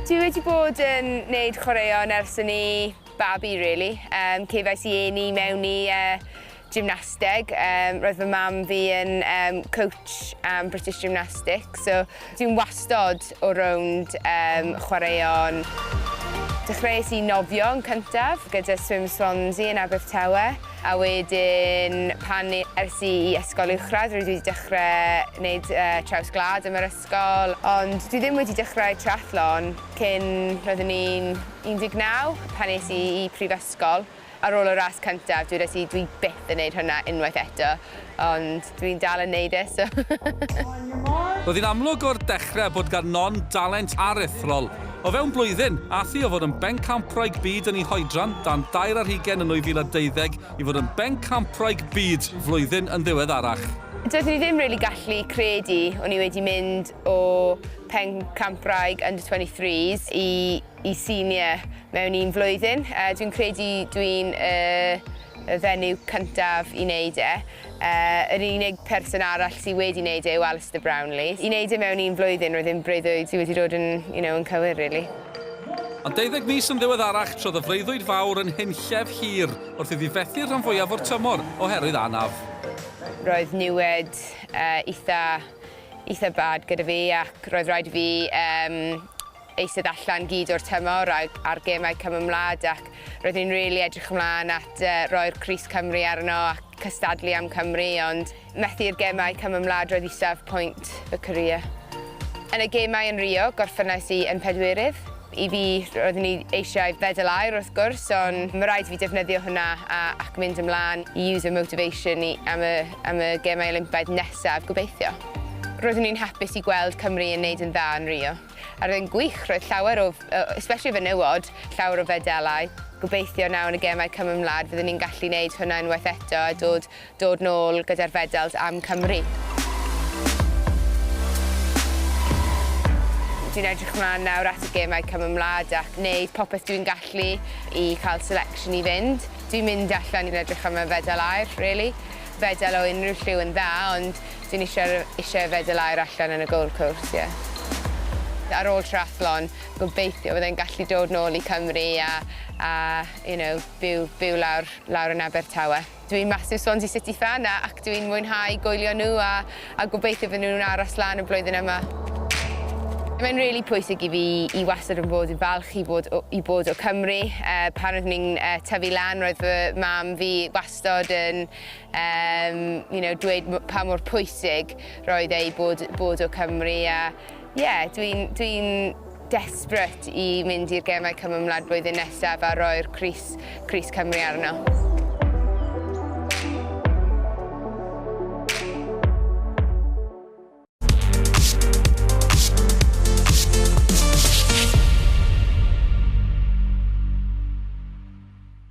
Dwi wedi bod yn wneud chwaraeon ers yn i babi, really. Um, cefais i eni mewn i uh, gymnasteg. Um, roedd fy mam fi yn um, coach um, British Gymnastics, so dwi'n wastod o rownd um, chwaraeon. Dechreuais i nofio yn cyntaf gyda Swim Swansea yn Abertawe. A wedyn pan es i i ysgol uwchradd rydw i wedi dechrau gwneud traws gwlad yn yr ysgol ond dwi ddim wedi dechrau triathlon cyn roeddwn i'n 19 pan es i i prifysgol ar ôl y ras cyntaf dywedais i dwi byth yn wneud hwnna unwaith eto. ond dwi'n dal yn neud e so. Roedd hi'n amlwg o'r dechrau bod gan Non dalent aruthrol. O fewn blwyddyn, aeth hi o fod yn bencampwraig byd yn ei hoedran dan dair ar hugain yn 2012 i fod yn bencampwraig byd flwyddyn yn ddiweddarach. Doeddwn i ddim rili gallu credu o'n i wedi mynd o pencampwraig under 23s i i senior mewn un flwyddyn. Dwi'n credu dwi'n y y fenyw cyntaf i wneud e. Yr unig person arall sydd wedi wneud e yw Alistair Brownlee. I wneud e mewn un blwyddyn, roedd e'n breuddwyd sydd wedi dod yn, you know, yn cywir rili. Ond deuddeg mis yn ddiweddarach, trodd y freuddwyd fawr yn hunllef hir wrth iddi fethu rhan fwyaf o'r tymor oherwydd anaf. Roedd niwed eitha', eitha' bad gyda fi ac roedd rhaid i fi yym eistedd allan gyd o'r tymor ac ar gemau Cymymlad ac roeddwn i'n rili edrych ymlaen at roi'r crys Cymru arno ac cystadlu am Cymru ond methu i'r gemau Cymymlad roedd isaf pwynt fy career. Yn y gemau yn Rio gorffennais i yn pedwerydd. I fi roeddwn i eisiau fedal aur wrth gwrs ond mae rhaid i fi defnyddio hwnna a ac mynd ymlaen i use y motivation i am y am y gemau Olympaidd nesaf gobeithio. Roeddwn i'n hapus i gweld Cymru yn neud yn dda yn Rio. A'r un gwych, roedd llawer o, especially fenywod, llawer o fedalau. Gobeithio nawr yn y gemau Cymru am Wlad fyddwn ni'n gallu wneud hwnna unwaith eto a dod, dod nôl gyda'r fedals am Cymru. Dwi'n edrych ymlaen nawr at y gemau Cymru am Wlad ac wneud popeth dwi'n gallu i cael selection i fynd. Dwi'n mynd allan i'n edrych am y fedal aur, really. Fedal o unrhyw lliw yn dda, ond Sy'n ishe r- ishe yfed dy laer allan yn y gold course ie. Ar ôl triathlon gobeithio byddai'n gallu dod nôl i Cymru a a you know byw byw lawr lawr yn Abertawe. Dw i'n massive Swansea City fan a ac dw i'n mwynhau goelio nhw a a gobeithio fydden nhw'n aros lan y blwyddyn yma. Mae'n rili pwysig i fi i wastad yn bod yn falch i fod o i bod o Cymru yy pan oeddwn i'n yy tyfu lan roedd fy mam fi wastad yn Yym, you know, dweud pa mor pwysig roedd ei bod, bod o Cymru a ie, dwi'n dwi desperate i mynd i'r gemau cymymlad blwyddyn nesaf a roi'r Cris, Cris Cymru arno.